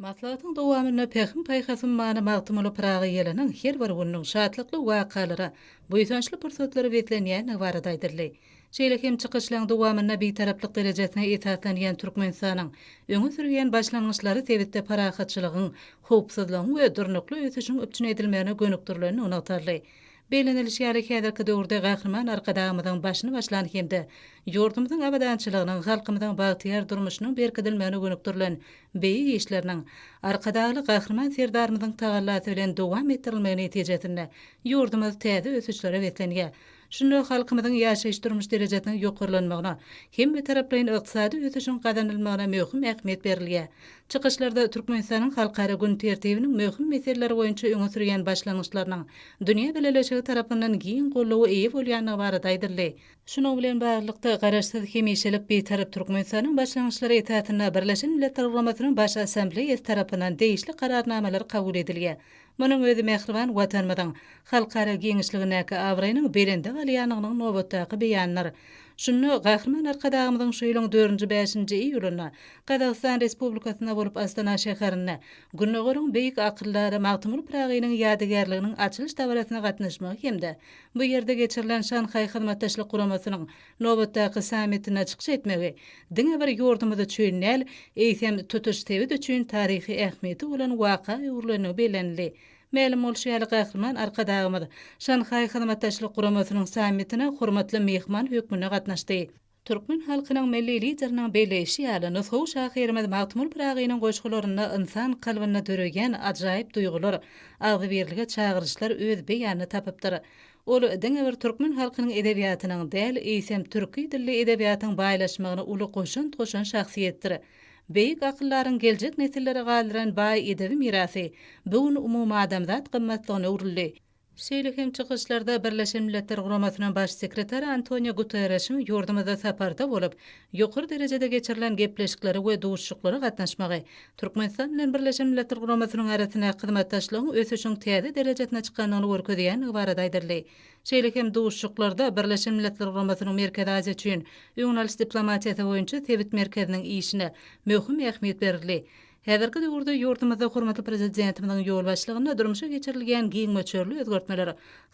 Maslahatyň dowamynda Pähim-paýhasyň many Magtymguly Pyragy ýylynyň her bir gününiň şatlykly wakalara, buýsançly pursatlara beslenýändigi barada aýdyldy. Şeýle hem çykyşlaryň dowamynda Bitaraplyk derejesine esaslanýan Türkmenistanyň öňe sürýän başlangyçlary sebitde parahatçylygyň, howpsuzlygyň we durnukly ösüşiň üpjün edilmegine gönükdirilendigi nygtaldy. Bellenilişi ýaly, häzirki döwürde Gahryman Arkadagymyzyň başyny başlan hem-de ýurdumyzyň abadançylygynyň, halkymyzyň bagtyýar durmuşynyň berkidilmegine gönükdirilen beýik işleriniň Arkadagly Gahryman Serdarymyzyň tagallasy bilen dowam etdirilmegi netijesinde ýurdumyz täze ösüşlere beslenýär. Şunda halkymyzyň ýaşaýyş-durmuş derejesiniň ýokarlanmagyna, hemmetaraplaýyn ykdysady ösüşiň gazanylmagyna möhüm ähmiýet berilýär. Çykyşlarda Türkmenistanyň halkara gün tertibiniň möhüm meseleleri boýunça öňe sürýän başlangyçlarynyň dünýä bileleşigi tarapyndan giň goldawa eýe bolýandygy barada aýdyldy. Şunuň bilen baglylykda, Garaşsyz, hemişelik Bitarap Türkmenistanyň başlangyçlary esasynda Birleşen Milletler Guramasynyň Baş Assambleýasy tarapyndan degişli Kararnamalar kabul edilýär. Munuň özi mähriban Watanymyzyň halkara giňişligindäki abraýynyň belende galýandygynyň nobatdaky beýanydyr. Şunda Gahryman Arkadagymyzyň şu ýylyň dördünji bäşinji iýulynda Gazagystan Respublikasynda bolup Astana şäherinde Gündogaryň beýik akyldary Magtymguly Pyragynyň ýadygärliginiň açylyş dabarasyna gatnaşmagy hem-de bu ýerde geçirilen Şanhaý Hyzmatdaşlyk Guramasynyň Nobatdaky sammitine çykyş etmegi diňe bir ýurdumyz üçin däl, eýsem, tutuş sebit üçin taryhy ähmiýeti bolan waka öwrülenligi bellenildi. Mälim bolşy ýaly, Gahryman Arkadagymyz Şanhaý Hyzmatdaşlyk Guramasynyň sammitine hormatly myhman hökmünde gatnaşdy. Türkmen halkynyň Milli Lideriniň belleýşi ýaly, nusgawy şahyrymyz Magtymguly Pyragynyň goşgularynda ynsan kalbynda döreýän ajaýyp duýgular, agzybirlige çagyryşlar öz beýanyny tapypdyr. Ol diňe bir türkmen halkynyň edebiýatynyň däl, eýsem, türki dilli edebiýatyň baýlaşmagyna uly goşant goşan şahsyýetdir. Beýik akyldaryň geljek nesillere galdyran baý edebi mirasy bu gün umumadamzat gymmatlygyna öwrüldi. Şeýle hem çykyşlarda Birleşen Milletler Guramasynyň Baş sekretary Antonio Guterreşiň ýurdumyzda saparda bolup, ýokary derejede geçirilen gepleşiklere we duşuşyklara gatnaşmagy, Türkmenistan bilen Birleşen Milletler Guramasynyň arasyndaky hyzmatdaşlygyň ösüşiň täze derejesine çykandygyny görkezýändigi barada aýdyldy. Şeýle hem duşuşyklarda Birleşen Milletler Guramasynyň Merkezi Aziýa üçin öňüň alyş diplomatiýasy boýunça sebit merkeziniň işine möhüm ähmiýet berildi. Häzirki döwürde ýurdumyzda hormatly Prezidentimiziň ýolbaşçylygynda durmuşa geçirilýän giň möçberli özgertmeler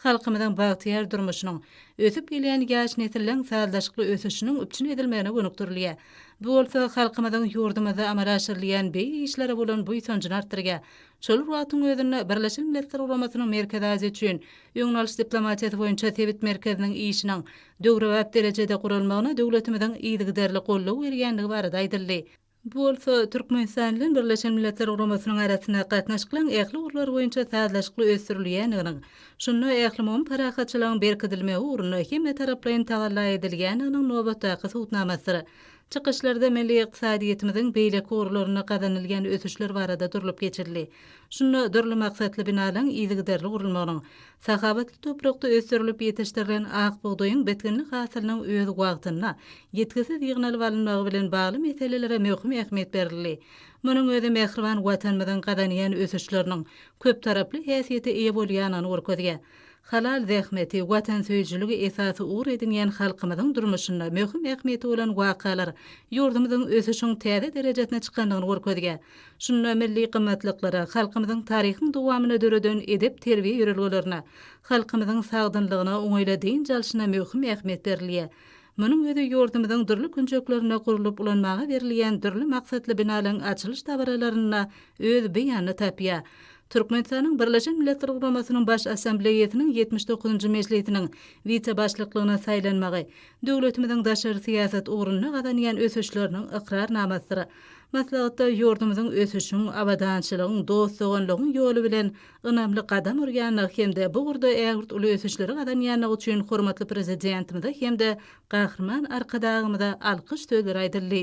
halkymyzyň bagtyýar durmuşynyň, ösüp gelýän ýaş nesilleriň sazlaşykly ösüşiniň üpjün edilmegine gönükdirilýär. Bu bolsa halkymyzyň ýurdumyzda amala aşyrylýan beýik işlere bolan buýsanjyny artdyrýar. Şol bir wagtyň özünde Birleşen Milletler Guramasynyň Merkezi Aziýa üçin öňüni alyş diplomatiýasy boýunça sebit merkeziniň işiniň döwrebap derejede guralmagyna döwletimiziň yzygiderli goldaw berýändigi barada aýdyldy. Bu bolsa Türkmenistan bilen Birleşen Milletler Guramasynyň arasynda gatnaşyklaryň ähli ugurlary boýunça sazlaşykly ösdürilýändiginiň, şunda ählumumy parahatçylygyň berkidilmegi ugrunda hemmetaraplaýyn tagalla edilýändiginiň nobatdaky subutnamasydyr. Çykyşlarda milli ykdysadyýetimiziň beýleki ugurlarynda gazanylýan ösüşler barada durlup geçildi. Şunda dürli maksatly binalaryň yzygiderli gurulmagynyň, Sahawatly toprakda ösdürilip ýetişdirilen ak bugdaýyň bitginli hasylynyň öz wagtynda, ýitgisiz ýygnalyp alynmagy bilen bagly meselelere möhüm ähmiýet berildi. Munuň özi mähriban Watanymyzyň gazanýan ösüşleriniň köptaraply häsiýete eýe bolýandygyny görkezýär. Halal zähmeti, watansöýüjiligi esasy ugur edinýän halkymyzyň durmuşynda möhüm ähmiýeti bolan wakalar ýurdumyzyň ösüşiň täze derejesine çykandygyny görkezýär. Şunda milli gymmatlyklara, halkymyzyň taryhyň dowamynda döreden edep-terbiýe ýörelgelerine, halkymyzyň sagdynlygyna, oňaýly dynç alşyna möhüm ähmiýet berilýär. Munuň özi ýurdumyzyň dürli künjeklerinde gurlup ulanmaga berilýän dürli maksatly binalaryň açylyş dabaralarynda öz beýanyny tapýar. Türkmenistanyň Birleşen Milletler Guramasynyň Baş Assambleýasynyň ýetmiş dokuzynjy mejlisiniň wise-başlyklygyna saýlanmagy döwletimiziň daşary syýasat ugrunda gazanýan ösüşleriniň ykrarnamasydyr. Maslahatda ýurdumyzyň ösüşiň, abadançylygyň, dost-doganlygyň ýoly bilen ynamly gadam urýandygy hem-de bu ugurda ägirt uly ösüşleri gazanýandygy üçin hormatly Prezidentimize hem-de Gahryman Arkadagymyza alkyş sözleri aýdyldy.